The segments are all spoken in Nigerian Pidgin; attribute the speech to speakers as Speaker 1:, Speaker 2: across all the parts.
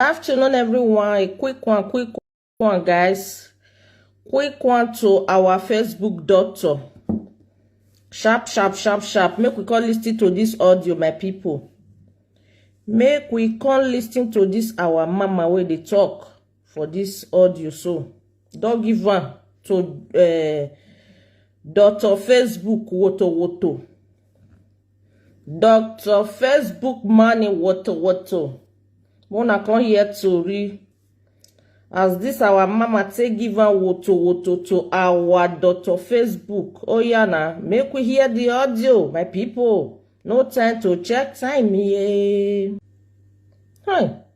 Speaker 1: afternoon everyone a quick one quick one guys quick one to our facebook doctor sharp sharp sharp sharp make we come listen to this audio my people make we come listen to this our mama where they talk for this audio so don't give one to uh, doctor facebook woto woto Doctor Facebook money woto woto. Mona come hear tori as this our mama take give am woto woto to our doctor Facebook. Oh yeah na, make we hear the audio, my people. No time to check time here. Hey.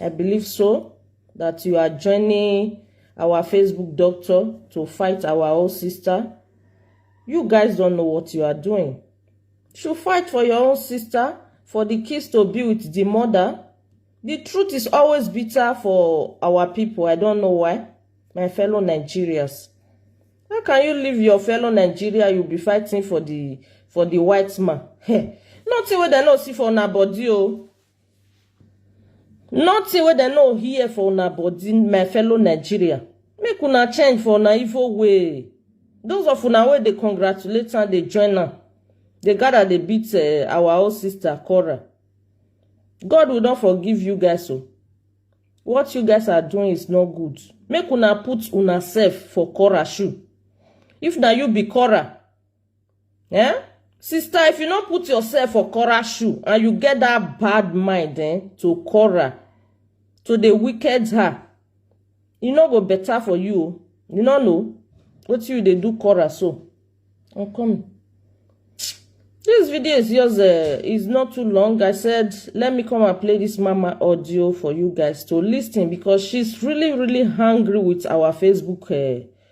Speaker 1: I believe so that you are joining our Facebook doctor to fight our own sister. You guys don't know what you are doing. Should fight for your own sister, for the kids to be with the mother. The truth is always bitter for our people. I don't know why. My fellow Nigerians. How can you leave your fellow Nigeria? You'll be fighting for the for the white man. Nothing wey dem no see for una body o. Oh. Nothing wey dem no hear for una body, my fellow Nigeria. Make una change for una evil way. Those of una wey dey congratulate am, dey join am, dey gather dey beat eh, our own sister Cora. God will not forgive you guys o. What you guys are doing is not good. Make una put una self for Cora shoe. If na you be Cora, Eh? Sister, if you no put yourself for Cora shoe and you get that bad mind eh, to Cora, to the wicked her, e no go better for you o. You no know what you dey do Cora so. I'm coming. This video is yours. Uh, is not too long. I said, let me come and play this mama audio for you guys to listen because she's really, really hungry with our Facebook uh,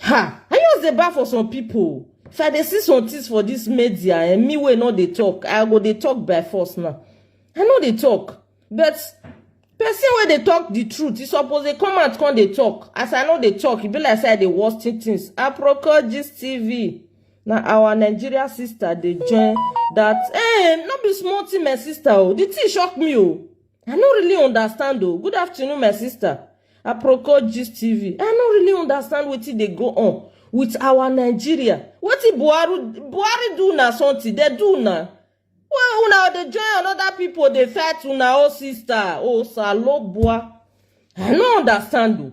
Speaker 1: Ha! I just dey bad for some people. If I dey see some things for this media and me wey no dey talk, I go dey talk by force now. I no dey talk. But person wey dey talk the truth, e suppose dey come out come dey talk. As I no dey talk, e be like say I dey watch things things. Aproko Gist TV. Na our Nigeria sister dey join that. Eh, no be small thing, my sister. Oh, the thing shock me. Oh. I no really understand o. Good afternoon, my sister. Aproko Gist TV. I no really understand wetin dey go on with our Nigeria. Wetin Buhari Buhari do na something, dey do na. Well, una dey join another people dey fight una own sister. Oh, Salobua. I no understand o.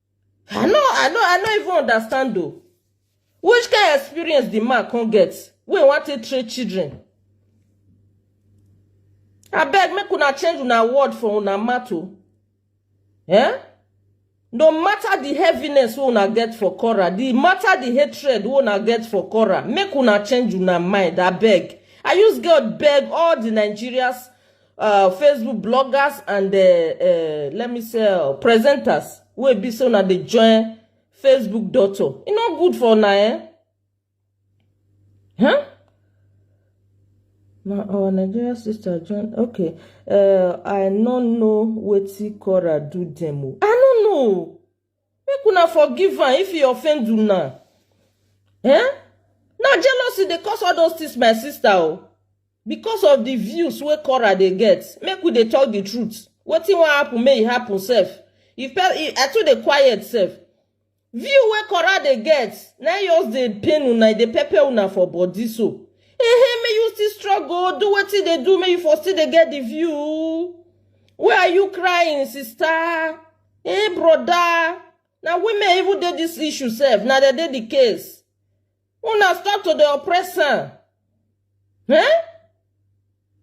Speaker 1: I no I no I no even understand though. Which kind of experience the man can get wey wan take train children? I beg make una change una word for una mouth o. Eh? No matter the heaviness wey una get for Cora, the matter the hatred wey una get for Cora, make una change una mind, I beg. I use God beg all the Nigerians uh, facebook bloggers and uh, uh, let me say uh, presenters wey be say una dey join facebook doctor e no good for una eh huh? na our nigerian sister join okay uh, i no know wetin cora do dem o i no know Make una forgive am if e offend una. Eh? Na jealousy dey cause all those things my sister o. Because of the views wey Cora dey get, make we dey talk the truth. Wetin wan happen make e happen sef. If pe if I too dey quiet sef. View wey Cora dey get na im just dey pain una, e dey pepper una for body so. Ehe, make you still struggle, do wetin dey do, make you for still dey get the view. Why are you crying, sister? Hey broda, na women even dey dis issue sef, na dem dey di case. Una stop to dey oppress am. Eh?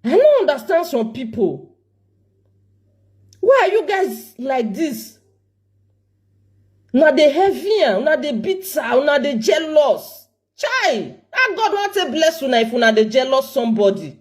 Speaker 1: I no understand some pipo. Why are you guys like dis? Una dey heavy am, una dey bitter, una dey jealous. Chai! How God wan take bless una if una dey jealous somebody?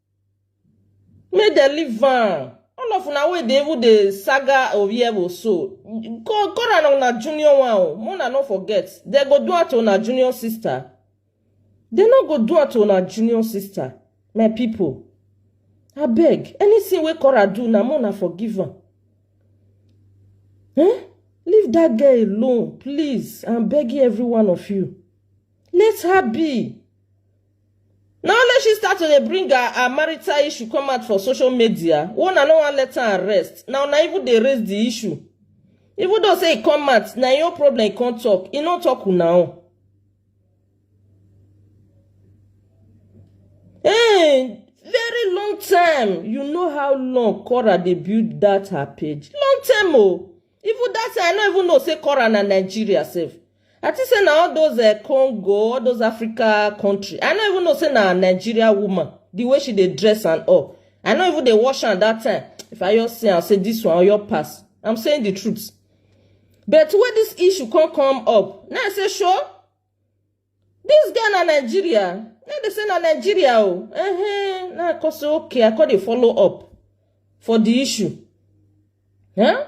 Speaker 1: Make dem leave am. All of una wey dey even dey saga Orievo so, go go na una junior one o, make una no forget. Dem go do am to una junior sister. Dem no go do am to una junior sister, my people. Abeg, anything wey Cora do na make una forgive am. Eh? Leave that girl alone, please. I'm begging every one of you. Let her be. Na only she start to dey bring her her marital issue come out for social media wey una no wan let am rest, na una even dey raise the issue. Even though say e come out, na im own problem e come talk, e no talk una own. Hey, very long time, you know how long Cora dey build that her page, long time o. Even that time, I no even know say Kora na Nigeria sef. I think say na all those uh, Congo, all those Africa country. I no even know say na Nigeria woman. The way she dey dress and all. I no even dey wash am that time. If I just see am say this one your pass. I'm saying the truth. But when this issue come come up, now I say sure. This girl na Nigeria. Na dey say na Nigeria o. Oh. Uh -huh. Na cause okay, I come dey follow up for the issue. Huh?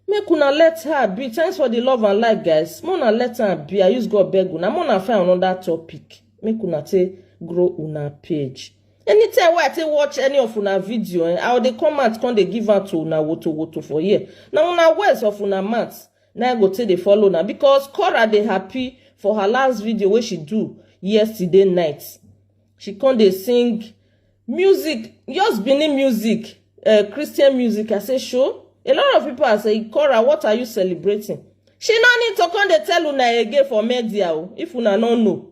Speaker 1: Make una let her be. Thanks for the love and like, guys. Make una let her be. I use God beg una. Make una find another topic. Make una take grow una page. Anytime wey I take watch any of una video, eh, I dey come out come dey give out to una woto woto for here. Na una words of una mouth. na i go take dey follow na because cora dey happy for her last video wey she do yesterday night she come dey sing music just benin music uh, christian music i say sure a lot of people are saying cora what are you celebrating she no need to come dey tell una again for media o if una no know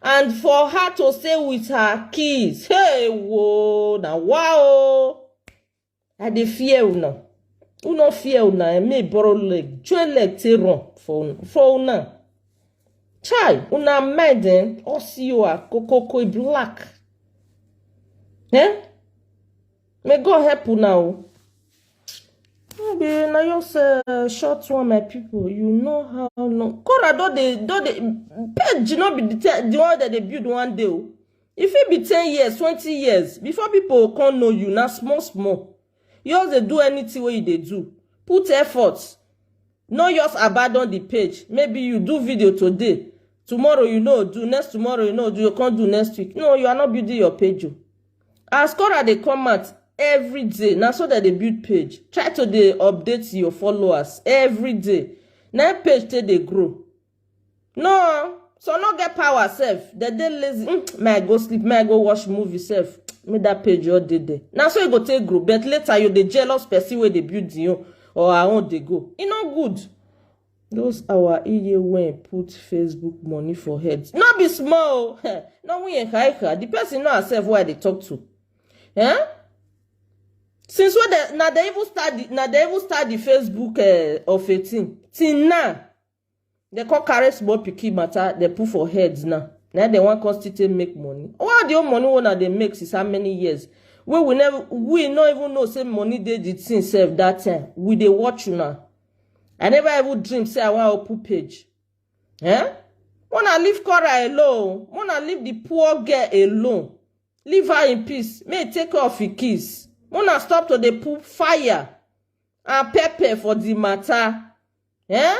Speaker 1: and for her to stay with her kids hey wo na wa o i dey fear una una fear una and me borrow leg join leg take run for una for una chai una mind eh all see you are kokoko black eh May God help una o. No be na just uh, short one, my people. You know how long. Kora don dey don dey page no be the te- the one that they build one day o. E fit be ten years, twenty years before people come know you. Na small small. You just dey do anything wey you dey do. Put effort. No just abandon the page. Maybe you do video today, tomorrow you no do, next tomorrow you no do, you can't do next week. No, you are not building your page. o. As Cora dey come out every day, na so dem dey build page. Try to dey update your followers every day. Na im page take dey grow. No, some no get power sef. Dem dey lazy. Mm, may I go sleep, may I go watch movie sef. Make that page your dey there. Na so e go take grow. But later you dey jealous person wey dey build im own or her own dey go. E no good. Those our iye wey put Facebook money for head no be small o. No we enhaika. The person know herself wey I dey talk to. Eh? Since when they, na they even start the, na they even start the Facebook eh, of a thing. Till now, they come carry small pikin matter they put for head now. Now they wan come still take make money. All the old money wey una dey make since how many years? Wey we never we no even know say money dey the thing sef that time. We dey watch una. I never even dream say I wan open page. Eh? Mona leave Cora alone. Mona leave the poor girl alone. Leave her in peace. May e take care of her kids. Mona stop to dey put fire and pepper for the matter. Eh?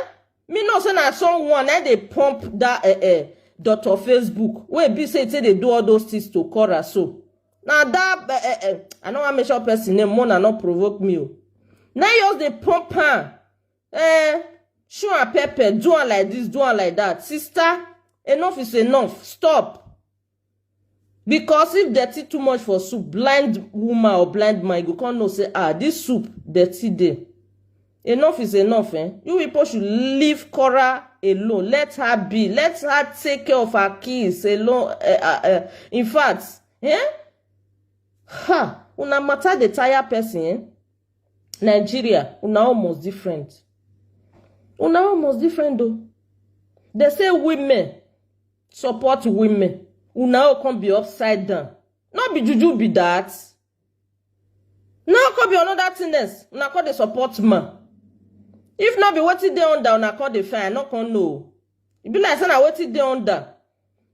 Speaker 1: Me know say na someone na dey pump that eh, eh, doctor Facebook wey be say e take dey do all those things to Cora so. na that eh, eh, eh, i no wan mention person name mona no provoke me o na you just dey pump am eh, show am pepper do am like this do am like that sister enough is enough stop because if dirty too much for soup blind woman or blind man you go come know say ah this soup dirty dey Enough is enough eh. You people should leave Cora alone. Let her be. Let her take care of her kids alone. Uh, uh, uh. In fact, eh? Ha! Una matter the tire person eh? Nigeria, una almost different. Una almost different though. They say women support women. Una all come be upside down. Not be juju be that. now come be another thing else una come dey support man if not be wetin dey under una come dey find i no come know o e be like say na wetin dey under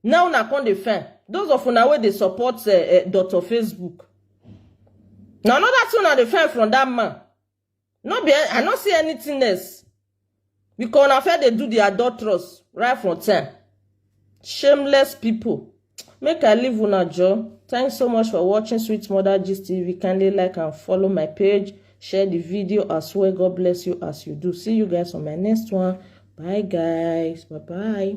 Speaker 1: now una come dey find those of una wey dey support uh, uh, dr facebook na another thing una dey find from that man no be i no see anything else because una fair dey do the adulterous right from time shameless people make i leave una joor thanks so much for watching sweet mother gist tv kindly like and follow my page share the video as well god bless you as you do see you guys on my next one bye guys bye bye